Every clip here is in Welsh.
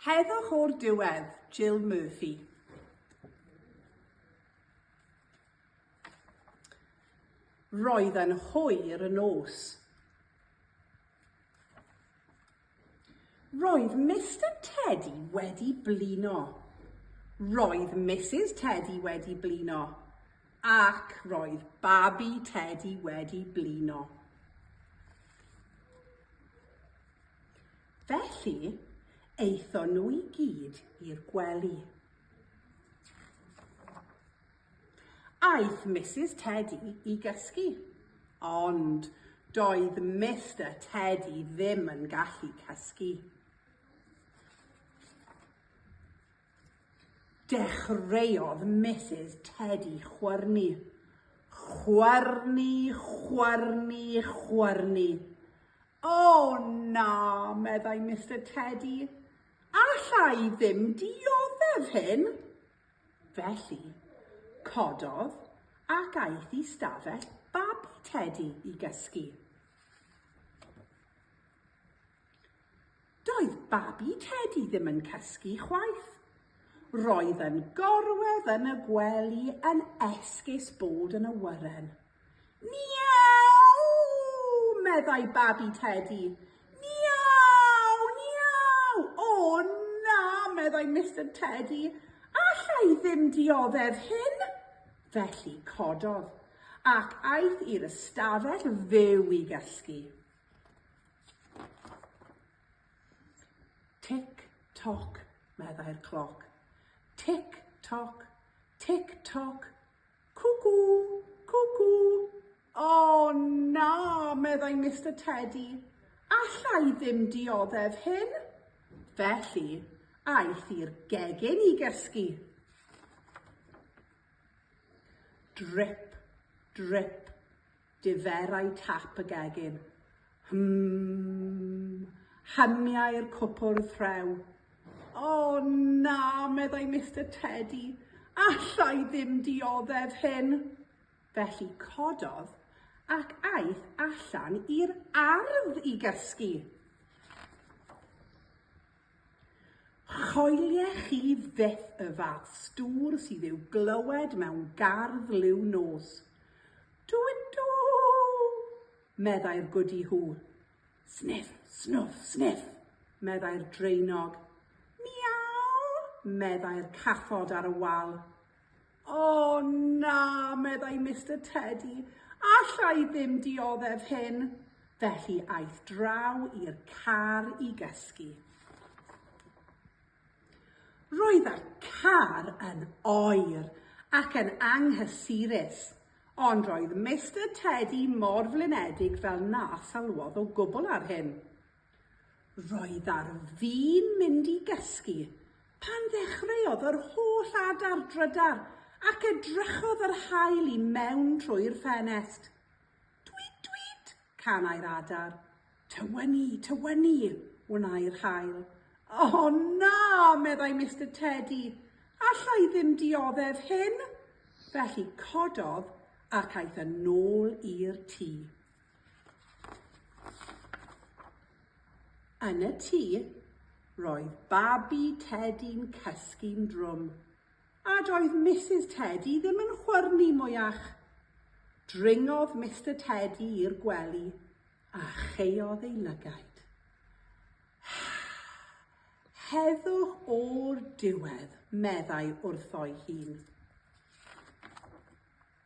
Heddwch o'r diwedd, Jill Murphy. Roedd yn hwyr y nos. Roedd Mister Teddy wedi blino. Roedd Mrs Teddy wedi blino. Ac roedd babi Teddy wedi blino. Felly, aethon nhw i gyd i'r gwely. Aeth Mrs Teddy i gysgu, ond doedd Mister Teddy ddim yn gallu cysgu. Dechreuodd Mrs Teddy chwyrnu. Chwyrnu, chwyrnu, chwyrnu. O, na, meddai Mister Tedi, alla i ddim dioddef hyn. Felly, cododd ac aeth i stafell babi Tedi i gysgu. Doedd babi Tedi ddim yn cysgu chwaith. Roedd yn gorwedd yn y gwely yn esgus bod yn awyren. Miaw! meddai babi Tedi. Miaw! Miaw! O na, meddai Mister Tedi. Alla i ddim dioddef hyn. Felly cododd, ac aeth i'r ystafell fyw i gysgu. Tic, toc, meddai'r cloc. Tic, toc, tic, toc, Cwcw! Cwcw! O, na, meddai Mister Tedi, alla i ddim dioddef hyn. Felly, aeth i'r gegin i gysgu. Drip, drip, Diferai tap y gegin. Hwmm! Hymiai'r cwpwrdd rhew. O, na, meddai Mister Tedi, alla i ddim dioddef hyn! Felly cododd ac aeth allan i'r ardd i gysgu. Choelie chi fyth y fath stŵr sydd i'w glywed mewn gardd liw nos. Dw i dw! meddai'r gwdi hw. Sniff, snwff, sniff, meddai'r draenog. Miaw! meddai'r cathod ar y wal. O na, meddai Mister Tedi, alla i ddim dioddef hyn. Felly aeth draw i'r car i gysgu. Roedd y car yn oer ac yn anghysurus, ond roedd Mister Tedi mor flinedig fel na salwodd o gwbl ar hyn. Roedd ar fin mynd i gysgu pan ddechreuodd yr holl adar drydar ac edrychodd yr haul i mewn trwy'r ffenest. Twît, twît! canai'r adar. Tywynnu, tywynnu! wnai'r haul. O na! meddai Mister Tedi. Alla i ddim dioddef hyn! Felly cododd ac aeth yn ôl i'r tŷ. Yn y tŷ, roedd babi Tedi'n cysgu'n drwm, a doedd Misus Tedi ddim yn chwyrnu mwyach. Dringodd Mister Tedi i'r gwely a chaeodd ei lygaid. Heddwch o'r diwedd, meddai wrtho'i hun.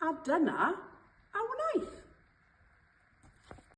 A dyna a wnaeth.